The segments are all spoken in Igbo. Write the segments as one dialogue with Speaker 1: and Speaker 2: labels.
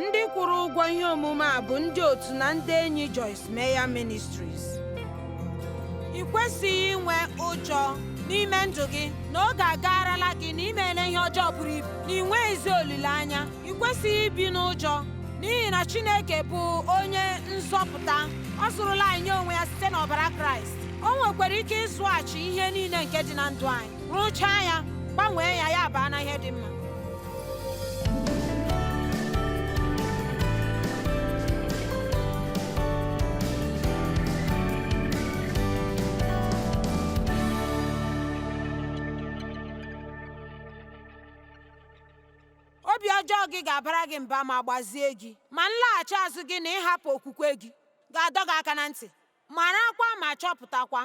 Speaker 1: ndị kwụrụ ụgwọ ihe omume a bụ ndị otu na ndị enyi Joyce Meyer Ministries ị kwesịghị inwe ụjọ n'ime ndụ gị na oge agaarala gị na imele ihe ọjọọ buru ibu na ị nweghịzi olileanya ị kwesịghị ibi n'ụjọ n'ihi na Chineke bụ onye nzọpụta ọ zụrụla anyị nye onwe ya site n'ọbara Kraịst o nwekwara ike ịzụghachi ihe niile nke dị na ndụ anyị rụchaa ya gbanwee ya ya baa na ihe dị mma obi ọjọọ gị ga-abara gị mba ma gbazie gị ma nlaghachi azụ gị na ịhapụ okwukwe gị ga-adọ gị aka na ntị Marakwa ma chọpụtakwa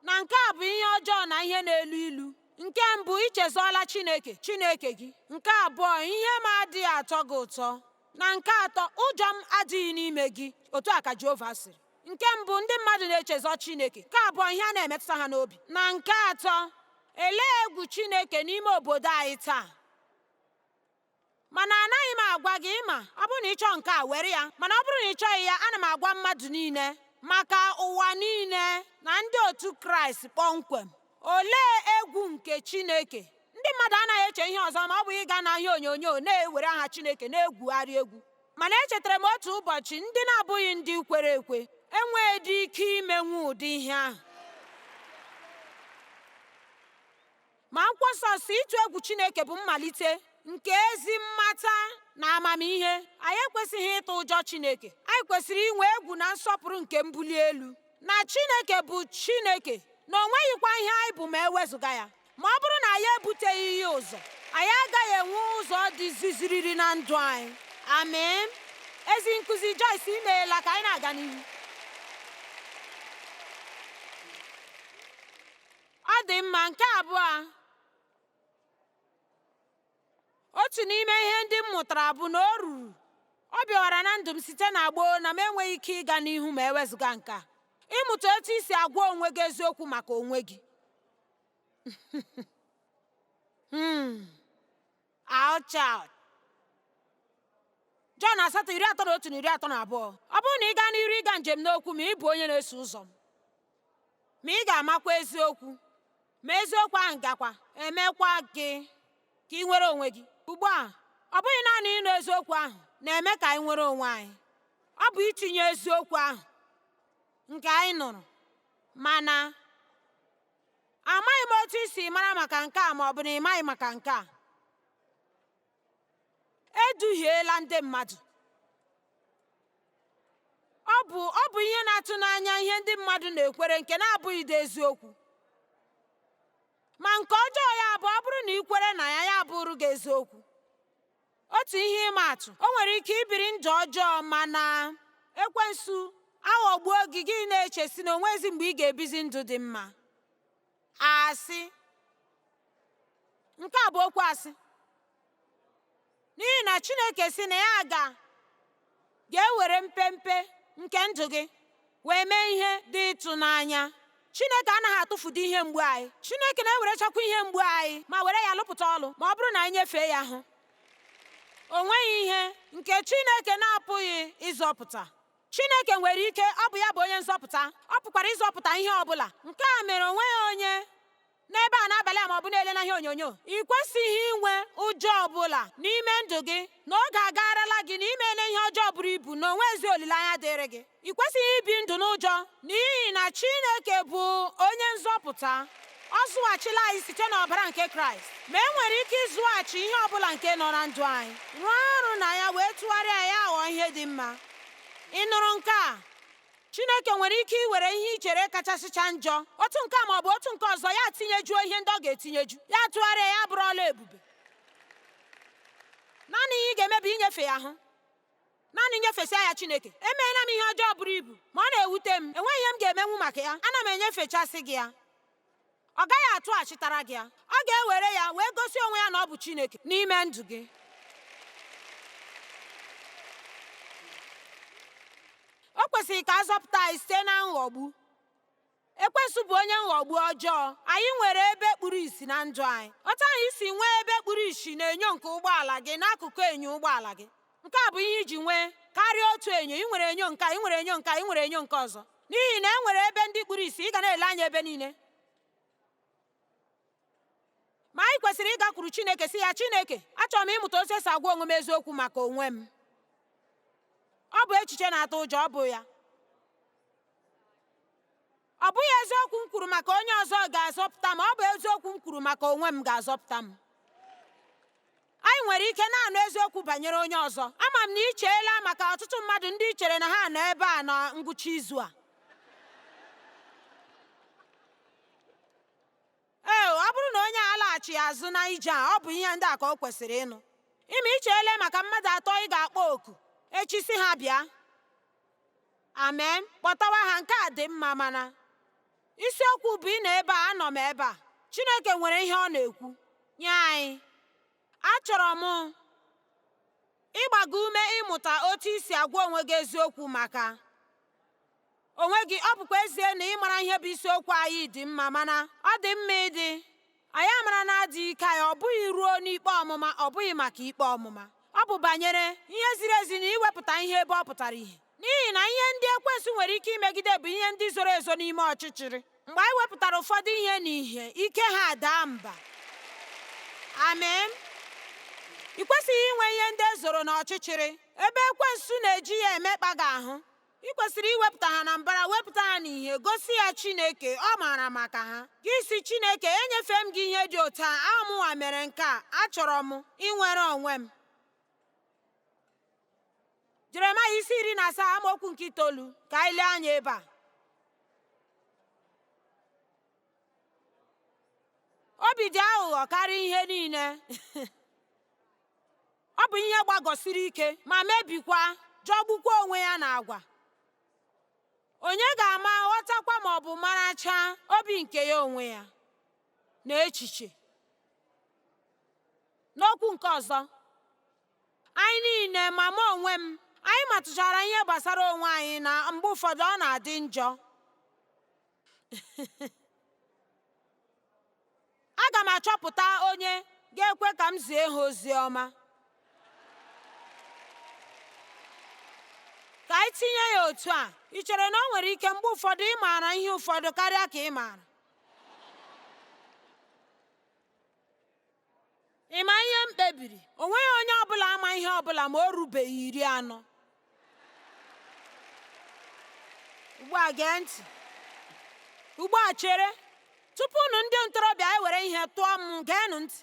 Speaker 1: na nke a bụ ihe ọjọọ na ihe na-elu ilu. Nke mbụ, i chezọọla Chineke, Chineke gị. Nke abụọ, ihe m adịghị atọ gị ụtọ. Na nke atọ, ụjọ m adịghị n'ime gị. Otu a ka Jehova sịrị. Nke mbụ, ndị mmadụ na-echezọ Chineke. Nke abụọ, ihe a na-emetụta ha n'obi. Na nke atọ, elee egwu Chineke n'ime obodo anyị taa? mana anaghị m agwa gị ị ma ọ bụrụ na ị chọọ nke a were ya mana ọ bụrụ na ị chọghị ya ana m agwa mmadụ niile maka ụwa niile na ndị otu kraịst kpọmkwem olee egwu nke chineke ndị mmadụ anaghị eche ihe ọzọ ma ọ bụghị ịga n'ihe onyonyo na-ewere aha chineke na-egwugharị egwu mana echetara m otu ụbọchị ndị na-abụghị ndị kwere ekwe enweghịdị ike imenwu ụdị ihe ahụ Ma akwụkwọ nsọ sị ịtụ egwu Chineke bụ mmalite nke ezi mmata na amamihe. Anyị ekwesịghị ịtụ ụjọ Chineke. Anyị kwesịrị inwe egwu na nsọpụrụ nke mbuli elu na Chineke bụ Chineke na o nweghịkwa ihe anyị bụ ma ewezụga ya. Ma ọ bụrụ na anyị ebuteghị ya ụzọ, anyị agaghị enwe ụzọ dị ziziriri na ndụ anyị. Amen. Ezi nkụzi Joyce imeela ka anyị na-aga n'ihu. Ọ dị mma nke abụọ otu n'ime ihe ndị m mụtara bụ na o ruru ọ bịawara na ndụ m site na gboo na m enweghị ike ịga n'ihu ma ewezụga nke a ịmụta otu i si agwa onwe gị eziokwu maka onwe gị hmm. Ouch Jọn asatọ iri atọ na otu na iri atọ na abụọ ọ bụrụ na ị gaa n'iru ịga njem n'okwu m a ị bụ onye na-eso ụzọ m ma ị ga-amakwa eziokwu ma eziokwu ahụ gakwa emekwa gị ka ị nwere onwe gị ugbu a ọ bụghị naanị ịnụ eziokwu ahụ na-eme ka anyị nwere onwe anyị ọ bụ itinye eziokwu ahụ nke anyị nụrụ mana amaghị m otu i si mara maka nke a ma ọ bụ na ị maghị maka nke a eduhiela ndị mmadụ ọ bụ ihe na-atụ n'anya ihe ndị mmadụ na-ekwere nke na-abụghịdị eziokwu ma nke ọjọọ ya bụ ọ bụrụ na i kwere na ya ya bụrụ gị eziokwu Otu ihe ịma atụ, o nwere ike ibiri ndụ ọjọọ mana ekwensu aghọgbuo gị gị na-eche sị na o nwezi mgbe ị ga-ebizi ndụ dị mma asị nke a bụ okwu asị n'ihi na Chineke sị na ya ga ga-ewere mpempe nke ndụ gị wee mee ihe dị ịtụnanya chineke anaghị atụfudu ihe mgbu anyị chineke na-ewerechakwa ihe mgbu anyị ma were ya lụpụta ọlụ ma ọ bụrụ na anyị nyefee ya ahụ o nweghị ihe nke chineke na-apụghị ịzọpụta chineke nwere ike ọ bụ ya bụ onye nzọpụta ọ pụkwara ịzọpụta ihe ọ bụla nke a mere o nweghị onye n'ebe a n'abalị a ma ọ bụ na-ele n'ihe onyonyo i kwesịghị inwe ụjọ ọbụla n'ime ndụ gị na oge agaarala gị na i meele ihe ọjọọ buru ibu na o nwezi olileanya dịịrị gị i kwesịghị ibi ndụ n'ụjọ n'ihi na Chineke bụ onye nzọpụta ọ zụghachila anyị site n'ọbara nke kraịst ma e nwere ike ịzụghachi ihe ọ bụla nke nọ na ndụ anyị rụọ ọrụ na ya wee tụgharịa ya ghọọ ihe dị mma ị nụrụ nke a Chineke nwere ike iwere ihe i chere kachasịcha njọ, otu nke a ma ọ bụ otu nke ọzọ, ya tinyejuo ihe ndị ọ ga-etinyeju, ya tụgharịa ya bụrụ ọla ebube. Naanị ihe ị ga-eme bụ inyefe ya ahụ. Naanị nyefesịa ya Chineke. Emeela m ihe ọjọọ buru ibu, ma ọ na-ewute m. Enweghị ihe m ga-emenwu maka ya. Ana m enyefechasị gị ya. ọ gaghị atụghachitara gị ya ọ ga-ewere ya wee gosi onwe ya na ọ bụ Chineke n'ime ndụ gị o kwesịrị ka a zọpụta anyị site na nghọgbu ekwensu bụ onye nghọgbu ọjọọ anyị nwere ebe kpuru isi na ndụ anyị otu anyị si nwee ebe kpuru isi na enyo nke ụgbọala gị n'akụkụ enyo ụgbọala gị Nke a bụ ihe i ji nwee karịa otu enyo. I nwere enyo nke a, i nwere enyo nke a, i nwere enyo nke ọzọ. N'ihi na e nwere ebe ndị kpuru isi, ị ga na-ele anya ebe niile. Ma anyị kwesịrị ịgakwuru Chineke sị ya, Chineke, achọrọ m ịmụta otu e si agwa onwe m eziokwu maka onwe m. Ọ bụ echiche na-atụ ụjọ, ọ bụ ya. Ọ bụghị eziokwu m kwuru maka onye ọzọ ga-azọpụta m, ọ bụ eziokwu m kwuru maka onwe m ga-azọpụta m. Anyị nwere ike na-anụ eziokwu banyere onye ọzọ. Ama m na i cheela maka ọtụtụ mmadụ ndị i chere na ha nọ ebe a na ngwụcha izu a. Ee, ọ bụrụ na onye a laghachi azụ na ije a, ọ bụ ihe ndị a ka o kwesịrị ịnụ. Ị ma i cheele maka mmadụ atọ ị ga-akpọ oku echi sị ha bịa. amen kpọtawa ha nke a dị mma mana isiokwu bụ ị nọ ebe a anọ m ebe a chineke nwere ihe ọ na-ekwu nye anyị achọrọ m ịgba gị ume ịmụta otu ị si agwa onwe gị eziokwu maka onwe gị ọ bụkwa ezie na ịmara ihe bụ isiokwu anyị dị mma mana ọ dị mma ịdị anyị amara na adịghị ike anyị ọ bụghị ruo n'ikpe ọmụma ọ bụghị maka ikpe ọmụma ọ bụ banyere ihe ziri ezi na iwepụta ihe ebe ọ pụtara ihe n'ihi na ihe ndị ekwensu nwere ike imegide bụ ihe ndị zoro ezo n'ime ọchịchịrị mgbe anyị wepụtara ụfọdụ ihe n'ihe ike ha daa mba amen ị kwesịghị inwe ihe ndị e zoro n'ọchịchịrị ebe ekwensu na-eji ya emekpa gị ahụ ị kwesịrị iwepụta ha na mbara wepụta ha n'ihe gosi ya chineke ọ maara maka ha gị sị chineke enyefe m gị ihe dị otu a ọ bụ mụnwa mere nke a achọrọ m inwere onwe m jeremaya isi iri na asaa amaokwu nke itoolu ka anyị lee anya ebe a obi dị aghụghọ karịa ihe niile Ọ bụ ihe gbagọsiri ike ma mebikwa jọgbukwa onwe ya na agwa. Onye ga-ama ghọtakwa ma ọ bụ marachaa obi nke ya onwe ya na echiche. N'okwu nke ọzọ, anyị niile ma mụ onwe m anyị matụchara ihe gbasara onwe anyị na mgbe ụfọdụ ọ na-adị njọ. aga m achọpụta onye ga-ekwe ka m zie ha ozi ọma ka anyị tinye ya otu a ị chere na o nwere ike mgbe ụfọdụ ị maara ihe ụfọdụ karịa ka ị maara Ị ma ihe m kpebiri? O nweghị onye ọ bụla ama ihe ọ bụla ma o rubeghị iri anọ. Ugbu a gee ntị. Ugbu a chere. Tupu unu ndị ntorobịa ewere ihe tụọ m, geenụ ntị.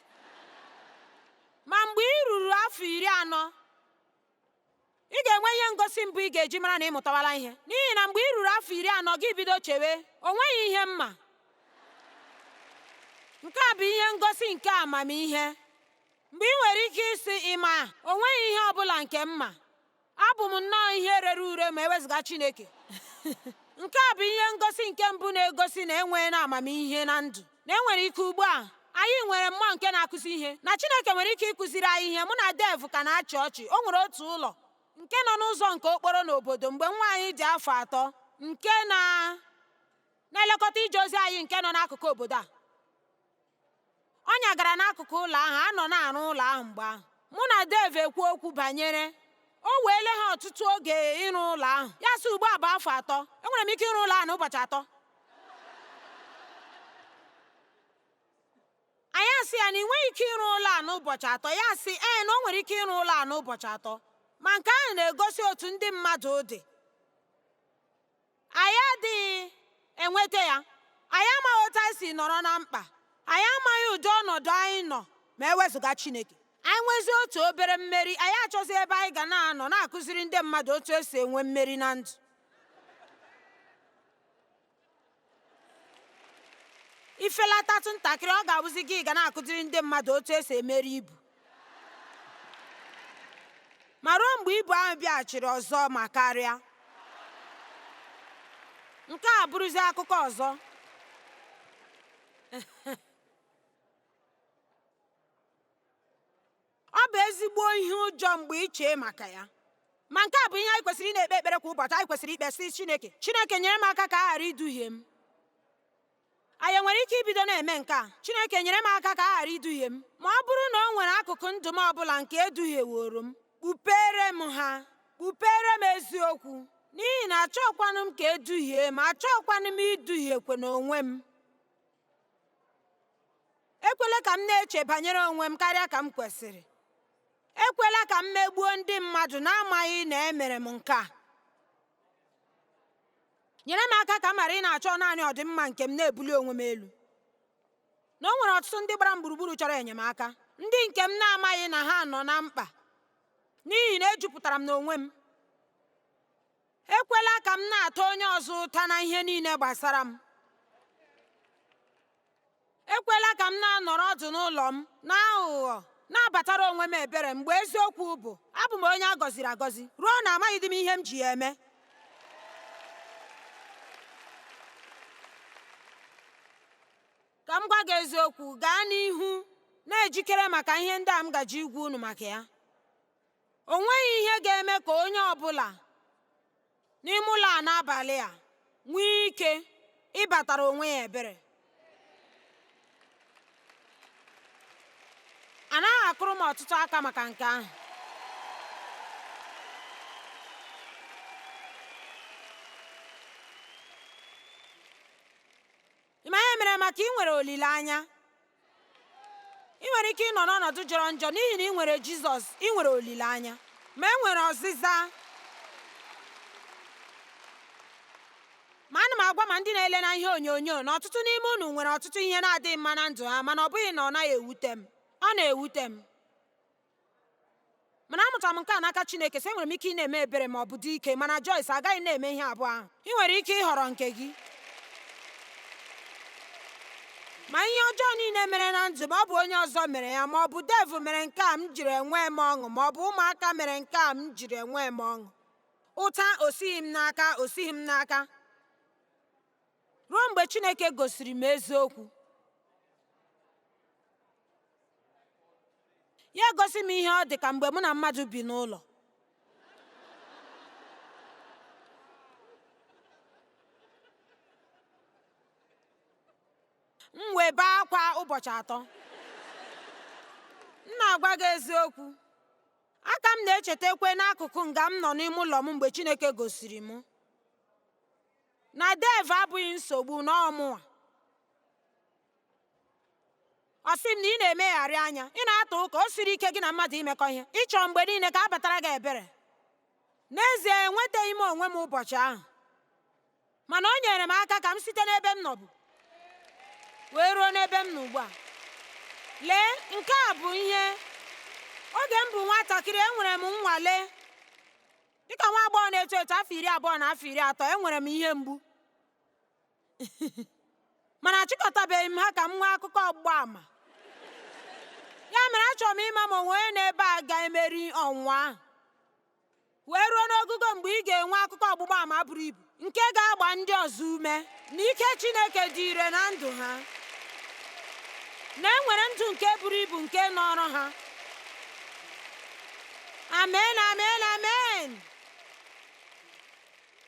Speaker 1: Ma mgbe ị ruru afọ iri anọ, ị ga-enwe ihe ngosi mbụ ị ga-eji mara na ị mụtawala ihe n'ihi na mgbe ị ruru afọ iri anọ gị bido chewe o nweghị ihe m ma nke a bụ ihe ngosi nke amamihe mgbe ị nwere ike ịsị ị ma o nweghị ihe ọ bụla nke m ma abụ m nnọọ ihe rere ure ma ewezụga Chineke nke a bụ ihe ngosi nke mbụ na-egosi na enweela amamihe na ndụ na e nwere ike ugbu a anyị nwere mmụọ nke na-akụzi ihe na Chineke nwere ike ịkụziri anyị ihe mụ na Dave ka na-achị ọchị o nwere otu ụlọ nke nọ n'ụzọ nke okporo n'obodo mgbe nwa anyị dị afọ atọ nke na na-elekọta ije ozi anyị nke nọ n'akụkụ obodo a ọ nyagara n'akụkụ ụlọ ahụ a nọ na-arụ ụlọ ahụ mgbe ahụ mụ na Dave ekwuo okwu banyere o weele ha ọtụtụ oge ịrụ ụlọ ahụ ya sị ugbu a bụ afọ atọ enwere m ike ịrụ ụlọ ahụ n'ụbọchị atọ anyị asị ya na i nweghị ike ịrụ ụlọ a n'ụbọchị atọ ya sị ee na o nwere ike ịrụ ụlọ a n'ụbọchị atọ ma nke ahụ na-egosi otu ndị mmadụ dị anyị adịghị enweta ya anyị amaghị otu anyị si nọrọ na mkpa anyị amaghị ụdị ọnọdụ anyị nọ ma e wezụga Chineke anyị nwezie otu obere mmeri anyị achọzi ebe anyị ga na-anọ na-akụziri ndị mmadụ otu esi enwe mmeri na ndụ i felatatụ ntakịrị ọ ga-abụzi gị ga na-akụziri ndị mmadụ otu esi emeri ibu ma ruo mgbe ibu ahụ bịaghachiri ọzọ ma karịa nke a bụrụzi akụkọ ọzọ ọ bụ ezigbo ihe ụjọ mgbe i chee maka ya ma nke a bụ ihe anyị kwesịrị ị na-ekpe ekpere kwa ụbọchị anyị kwesịrị ikpe sị Chineke Chineke nyere m aka ka a ghara iduhie m anyị nwere ike ibido na-eme nke a Chineke nyere m aka ka a ghara iduhie m ma ọ bụrụ na o nwere akụkụ ndụ m ọbụla nke e duhieworo m kpupere m ha kpupere m eziokwu n'ihi na achọọkwanụ m ka e duhie m achọọkwanụ m iduhiekwanụ onwe m ekwela ka m na-eche banyere onwe m karịa ka m kwesịrị ekwela ka m megbuo ndị mmadụ n'amaghị na emere m nke a nyere m aka ka m ghara ị na-achọ naanị ọdịmma nke m na-ebuli onwe m elu na o nwere ọtụtụ ndị gbara m gburugburu chọrọ enyemaka ndị nke m na-amaghị na ha nọ na mkpa n'ihi na ejupụtara m n'onwe m ekwela ka m na-ata onye ọzọ ụta na ihe niile gbasara m ekwela ka m na-anọrọ ọdụ n'ụlọ m n'aghụghọ na-abatara onwe m ebere mgbe eziokwu bụ abụ m onye a gọziri agọzi ruo na amaghịdị m ihe m ji ya eme ka m gwa gị eziokwu gaa n'ihu na-ejikere maka ihe ndị a m gaje ịgwa unu maka ya O nweghị ihe ga-eme ka onye ọ bụla n'ime ụlọ a n'abalị a nwee ike ịbatara onwe ya ebere. A naghị akụrụ m ọtụtụ aka maka nke ahụ. ị ma ihe mere maka ị nwere olileanya ị nwere ike ịnọ n'ọnọdụ jọrọ njọ n'ihi na ị nwere jizọs ị nwere olileanya ma e nwere ọzịza ma ana m agwa ma ndị na-ele na ihe onyonyo na ọtụtụ n'ime unu nwere ọtụtụ ihe na-adịghị mma na ndụ ha mana ọ bụghị na ọ naghị ewute m ọ na-ewute m mana amụtara m nke a n'aka Chineke sị enwere m ike ịna-eme ebere ma ọ bụ dị ike mana Joyce agaghị na-eme ihe abụọ ahụ ị nwere ike ịhọrọ nke gị ma ihe ọjọọ niile mere na ndụ ma ọ bụ onye ọzọ mere ya ma ọ bụ devil mere nke a m jiri enwe m ọṅụ ma ọ bụ ụmụaka mere nke a m jiri enwe m ọṅụ ụta o sighị m n'aka o sighị m n'aka ruo mgbe Chineke gosiri m eziokwu. Ya gosi m ihe ọ dị ka mgbe mụ na mmadụ bi n'ụlọ. M wee bee akwa ụbọchị atọ. M na-agwa gị eziokwu. Aka m na-echetakwa n'akụkụ nga m nọ n'ime ụlọ m mgbe Chineke gosiri m. na devil abụghị nsogbu na ọ mụwa ọ sị m na ị na-emegharị anya ị na-ata ụka o siri ike gị na mmadụ imekọ ihe ị chọ mgbe niile ka a batara gị ebere n'ezie enwetaghị m onwe m ụbọchị ahụ mana o nyere m aka ka m site n'ebe m nọbụ wee ruo n'ebe m nọ ugbu a lee nke a bụ ihe oge m bụ nwatakịrị enwere m nnwale Dịka nwa agbọghọ na-eto eto afọ iri abụọ na afọ iri atọ, enwere m ihe mgbu. Mana achịkọtabeghị m ha ka m nwee akụkọ ọgbụgba ama. Ya mere achọrọ m ịma ma o nwee onye n'ebe a ga-emeri ọnwụnwa ahụ wee ruo n'ogugo mgbe ị ga-enwe akụkọ ọgbụgba ama buru ibu. nke ga-agba ndị ọzọ ume na ike Chineke dị ire na ndụ ha na e nwere ndụ nke buru ibu nke nọọrọ ha amen amen amen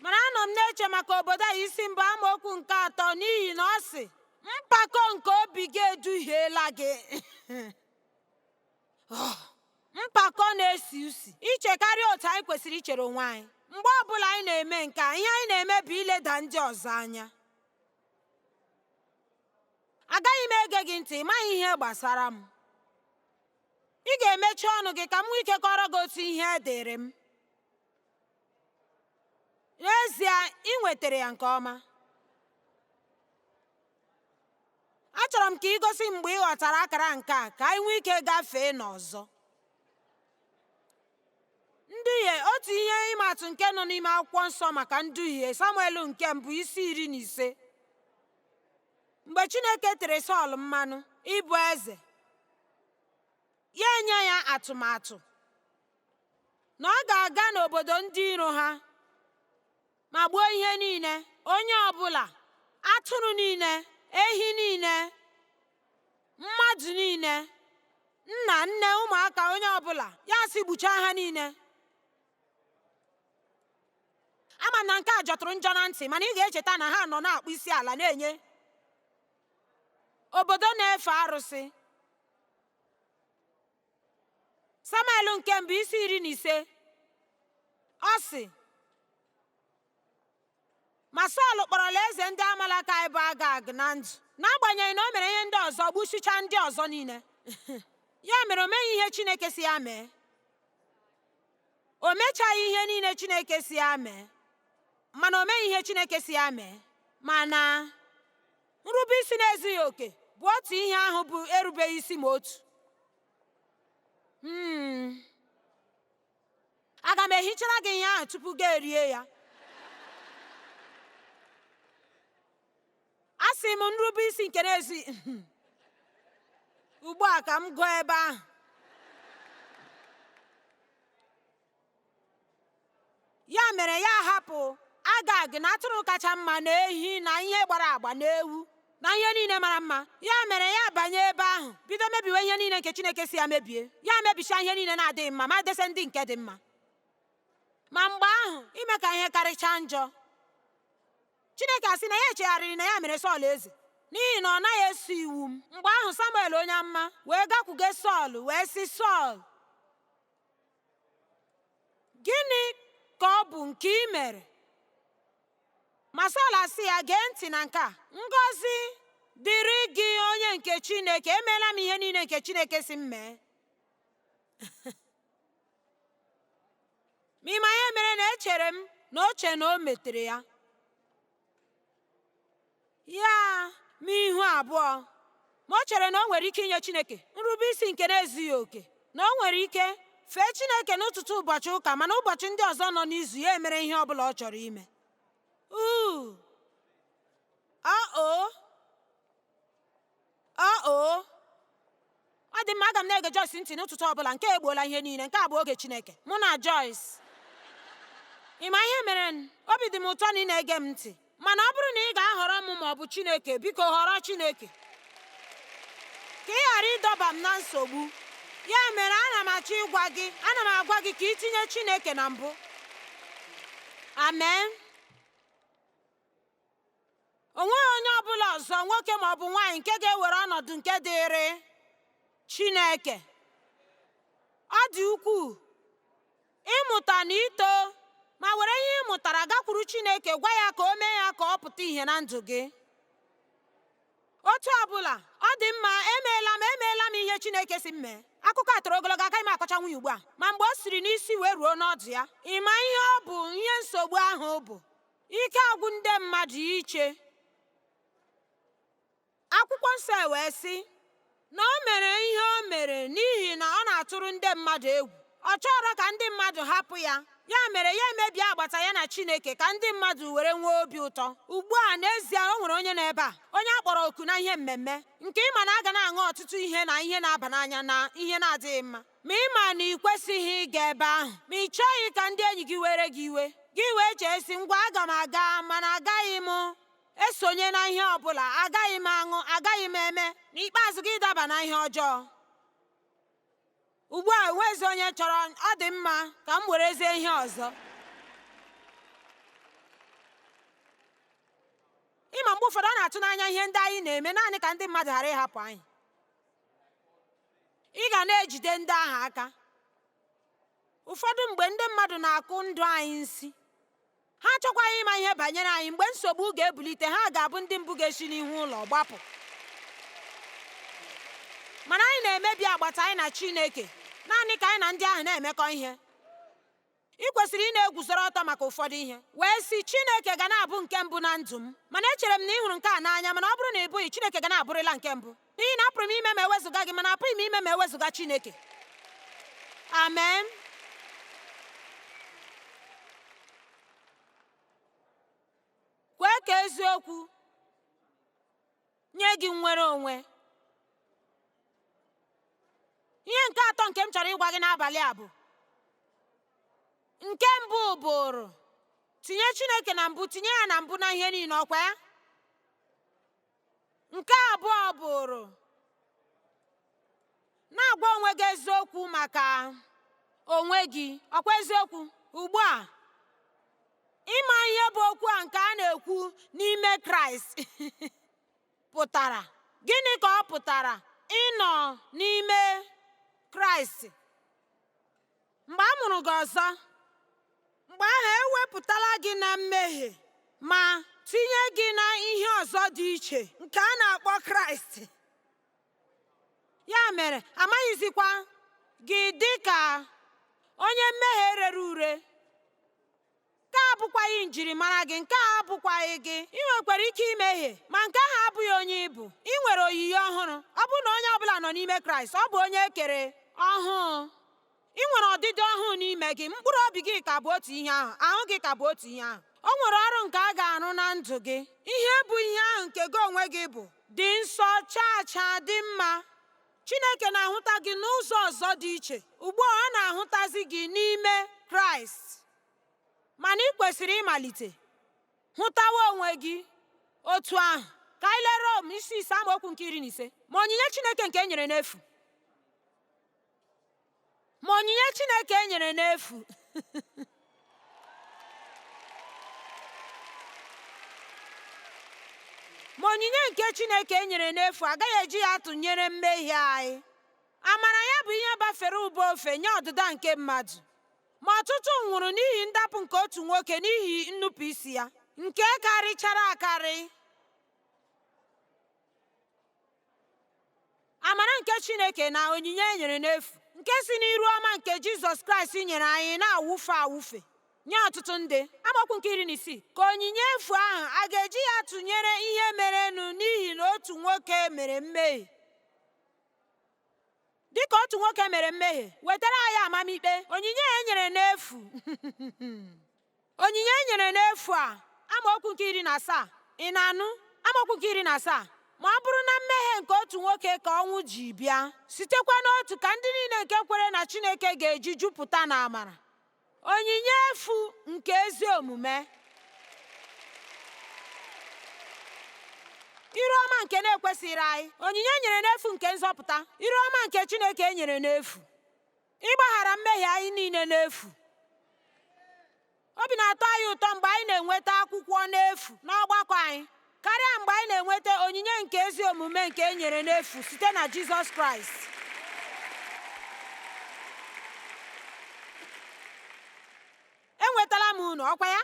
Speaker 1: mana anọ m na-eche maka Obadaya isi mbụ amaokwu nke atọ n'ihi na ọ sị mpako nke obi gị eduhiela gị ah, mpako na-esi usi ichekarị otu anyị kwesịrị ichere onwe anyị mgbe ọ bụla anyị na-eme nke a ihe anyị na-eme bụ ileda ndị ọzọ anya agaghị m ege gị ntị ị maghị ihe gbasara m ị ga-emechi ọnụ gị ka m nwee ike kọọrọ gị otu ihe dịrị m n'ezie ị nwetara ya nke ọma achọrọ m ka ị gosi mgbe ị ghọtara akara nke a ka anyị nwee ike gafee n'ọzọ nduhie otu ihe ịma atụ nke nọ n'ime akwụkwọ nsọ maka nduhie samuel nke mbụ isi iri na ise mgbe chineke tere sọl mmanụ ịbụ eze ya enye ya atụmatụ na ọ ga-aga n'obodo ndị iro ha ma gbuo ihe niile onye ọbụla atụrụ niile ehi niile mmadụ niile nna nne ụmụaka onye ọbụla ya sị gbuchaa ha niile ama m na nke a jọtụrụ njọ na ntị mana ị ga-echeta na ha nọ na-akpọ isi ala na-enye obodo na-efe arụsị samuel nke mbụ isi iri na ise ọ sị ma sọl kpọrọla eze ndị amalekaị bụ agag na ndụ n'agbanyeghị na o mere ihe ndị ọzọ gbusichaa ndị ọzọ niile ya mere o meghị ihe chineke sị ya mee o mechaghị ihe niile chineke sị ya mee mana o meghị ihe chineke sị ya mee mana nrube isi na-ezughị oke bụ otu ihe ahụ bụ erubeghị isi ma otu hmm. aga m ehichara gị ihe ahụ tupu gị erie ya asị m nrube isi nke na-ezi ugbu a ka m gụọ ebe ahụ ya mere ya hapụ agag na atụrụ kacha mma na ehi na ihe gbara agba na ewu na ihe niile mara mma ya mere ya banye ebe ahụ bido mebiwe ihe niile nke chineke sị ya mebie ya mebichaa ihe niile na-adịghị mma ma dese ndị nke dị mma ma mgbe ahụ ime ka ihe karịchaa njọ chineke asị na ya echegharịrị na ya mere sọl eze n'ihi na ọ naghị eso iwu m mgbe ahụ samuel onye amụma wee gakwuge sọl wee sị sọl gịnị ka ọ bụ nke i mere ma Sọl asị ya gee ntị na nke a ngọzi dịrị gị onye nke Chineke emeela m ihe niile nke Chineke sị m mee ma ị ma ihe mere na echere m na o che na o metere ya ya n'ihu abụọ ma o chere na o nwere ike inye Chineke nrube isi nke na-ezughị oke na o nwere ike fee Chineke n'ụtụtụ ụbọchị ụka mana ụbọchị ndị ọzọ nọ n'izu ya emere ihe ọ bụla ọ chọrọ ime uu O o ọ dị mma aga m na-ege Joyce ntị n'ụtụtụ ọbụla nke egbuola ihe niile nke a bụ oge Chineke mụ na Joyce ị ma ihe mere obi dị m ụtọ na ị na-ege m ntị mana ọ bụrụ na ị ga-ahọrọ m ma ọ bụ Chineke biko họrọ Chineke ka ị ghara ịdọba m na nsogbu ya mere ana m achọ ịgwa gị ana m agwa gị ka ị tinye Chineke na mbụ amen o nweghị onye ọ bụla ọzọ nwoke ma ọ bụ nwaanyị nke ga-ewere ọnọdụ nke dịịrị Chineke ọ dị ukwuu ịmụta na ito ma were ihe ị mụtara gakwuru Chineke gwa ya ka o mee ya ka ọ pụta ìhè na ndụ gị otu ọbụla ọ dị mma emeela m emeela m ihe Chineke si m mee akụkọ a toro ogologo agaghị m akọchanwu ya ugbu a ma mgbe o siri n'isi wee ruo n'ọdụ ya ị ma ihe ọ bụ ihe nsogbu ahụ bụ ike agwụ ndị mmadụ iche akwụkwọ nsọ wee sị na o mere ihe o mere n'ihi na ọ na-atụrụ ndị mmadụ egwu ọ chọrọ ka ndị mmadụ hapụ ya ya mere ya emebie agbata ya na chineke ka ndị mmadụ were nwee obi ụtọ ugbu a n'ezie o nwere onye n'ebe a onye a kpọrọ oku na ihe mmemme nke ị ma na a ga na-aṅụ ọtụtụ ihe na ihe na-aba n'anya na ihe na-adịghị mma Ma ị ma na ị kwesịghị ịga ebe ahụ, ma ị chọghị ka ndị enyi gị were gị iwe, gị wee chee sị, ngwa aga m aga, mana agaghị m esonye na ihe ọ bụla, agaghị m aṅụ, agaghị m eme, n'ikpeazụ gị daba na ihe ọjọọ. Ugbu a enwezi onye chọrọ, ọ dị mma ka m werezie ihe ọzọ. Ị ma mgbe ụfọdụ ọ na-atụ n'anya ihe ndị anyị na-eme naanị ka ndị mmadụ ghara ịhapụ anyị. Ị ga na-ejide ndị ahụ aka. Ụfọdụ mgbe ndị mmadụ na-akụ ndụ anyị nsi. Ha achọkwaghị ịma ihe banyere anyị mgbe nsogbu ga-ebulite ha ga-abụ ndị mbụ ga-esi n'ihu ụlọ gbapụ. Mana anyị na-emebi agbata anyị na Chineke naanị ka anyị na ndị ahụ na-emekọ ihe. ị kwesịrị ịna-eguzoro ọtọ maka ụfọdụ ihe wee sị Chineke ga na-abụ nke mbụ na ndụ m mana echere m na ị hụrụ nke a n'anya mana ọ bụrụ na ị bụghị Chineke ga na-abụrịla nke mbụ n'ihi na apụrụ m ime ma ewezuga gị mana apụghị m ime ma ewezuga Chineke amen kwee ka eziokwu nye gị nnwere onwe ihe nke atọ nke m chọrọ ịgwa gị n'abalị a bụ nke mbụ bụrụ tinye chineke na mbụ tinye ya na mbụ na ihe niile ọkwa ya nke abụọ bụrụ na-agwa onwe gị eziokwu maka onwe gị ọkwa eziokwu ugbu a ị ma ihe bụ okwu a nke a na-ekwu n'ime kraịst pụtara gịnị ka ọ pụtara ịnọ n'ime kraịst mgbe a mụrụ gị ọzọ mgbe ahụ ewepụtala gị na mmehie ma tinye gị na ihe ọzọ dị iche nke a na-akpọ kraịst ya mere amaghịzikwa gị dị ka onye mmehie rere ure nke a abụkwaghị njirimara gị nke a abụkwaghị gị ị nwekwara ike imehie ma nke ahụ abụghị onye ị bụ ị nwere oyiyi ọhụrụ ọ bụrụ na onye ọbụla nọ n'ime kraịst ọ bụ onye e kere ọhụụ Ị nwere ọdịdị ọhụụ n'ime gị, mkpụrụ obi gị ka bụ otu ihe ahụ, ahụ gị ka bụ otu ihe ahụ. O nwere ọrụ nke a ga-arụ na ndụ gị. Ihe bụ ihe ahụ nke gị onwe gị bụ dị nsọ, chaa chaa, dị mma. Chineke na-ahụta gị n'ụzọ ọzọ dị iche. Ugbu a ọ na-ahụtazi gị n'ime Kraịst. Mana ị kwesịrị ịmalite hụtawa onwe gị otu ahụ. Ka anyị lee Rom isi ise amaokwu nke iri na ise. Ma onyinye Chineke nke e nyere n'efu ma onyinye Chineke e nyere n'efu ma onyinye nke Chineke e nyere n'efu agaghị eji ya tụnyere mmehie anyị amara ya bụ ihe bafere ụba ofe nye ọdịda nke mmadụ ma ọtụtụ nwụrụ n'ihi ndapụ nke otu nwoke n'ihi nnupụisi ya nke karịchara akarị amara nke chineke na onyinye e nyere n'efu nke si n'iru ọma nke jizọs kraịst nyere anyị na-awụfe awụfe nye ọtụtụ ndị amaokwu nke iri na isii ka onyinye efu ahụ a ga-eji ya tụnyere ihe merenụ n'ihi na otu nwoke mere mmehie dịka otu nwoke mere mmehie wetara anyị amamikpe onyinye e nyere n'efu Onyinye e nyere n'efu a amaokwu nke iri na asaa ị na-anụ amaokwu nke iri na asaa ma ọ bụrụ na mmehie nke otu nwoke ka ọnwụ ji bịa sitekwa n'otu ka ndị niile nke kwere na Chineke ga-eji jupụta na amara onyinye efu nke ezi omume iru ọma nke na-ekwesịghị anyị onyinye e nyere n'efu nke nzọpụta iru ọma nke Chineke e nyere n'efu Ịgbaghara mmehie anyị niile n'efu. Obi na-atọ anyị ụtọ mgbe anyị na-enweta akwụkwọ n'efu n'ọgbakọ anyị karịa mgbe anyị na-enweta onyinye nke ezi omume nke e nyere n'efu site na Jizọs Kraịst. Enwetala m unu, ọkwa ya?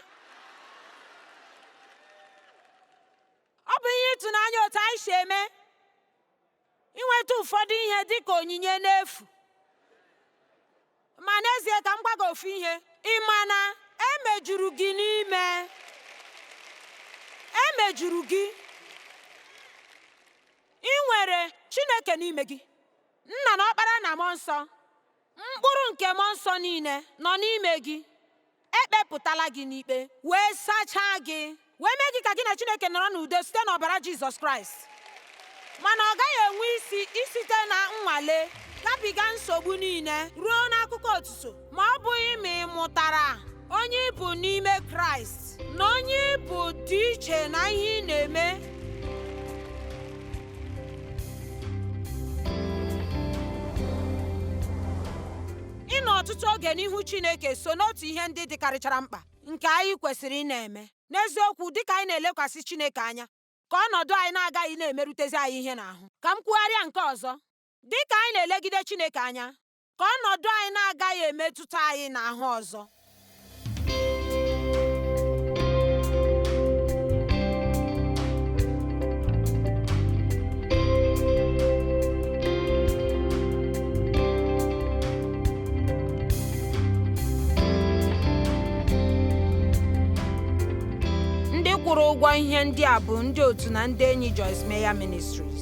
Speaker 1: Ọ bụ ihe ịtụnanya otu anyị si eme inweta ụfọdụ ihe dị ka onyinye n'efu ma n'ezie ka m gwa gị ofu ihe ị ma na emejuru gị n'ime emejuru gị i nwere chineke n'ime gị nna na ọkpara na mmụọ nsọ mkpụrụ nke mmụọ nsọ niile nọ n'ime gị ekpepụtala gị n'ikpe wee sachaa gị wee mee gị ka gị na chineke nọrọ n'udo site n'ọbara jizọs kraịst mana ọ gaghị enwe isi isite na nnwale gabiga nsogbu niile ruo n'akụkọ otuto ma ọ bụghị ma ị mụtara onye ị bụ n'ime kraịst na onye ị bụ dị iche na ihe ị na-eme ịnọ ọtụtụ oge n'ihu chineke so n'otu ihe ndị dịkarịchara mkpa nke anyị kwesịrị ịna-eme n'eziokwu dịka anyị na-elekwasị chineke anya ka ọnọdụ anyị na-agaghị na-emerutezi anyị ihe n'ahụ ka m kwugharịa nke ọzọ dịka anyị na-elegide chineke anya ka ọnọdụ anyị na-agaghị emetụta anyị n'ahụ ọzọ. ndị kwụrụ ụgwọ ihe ndị a bụ ndị otu na ndị enyi Joyce Meyer Ministries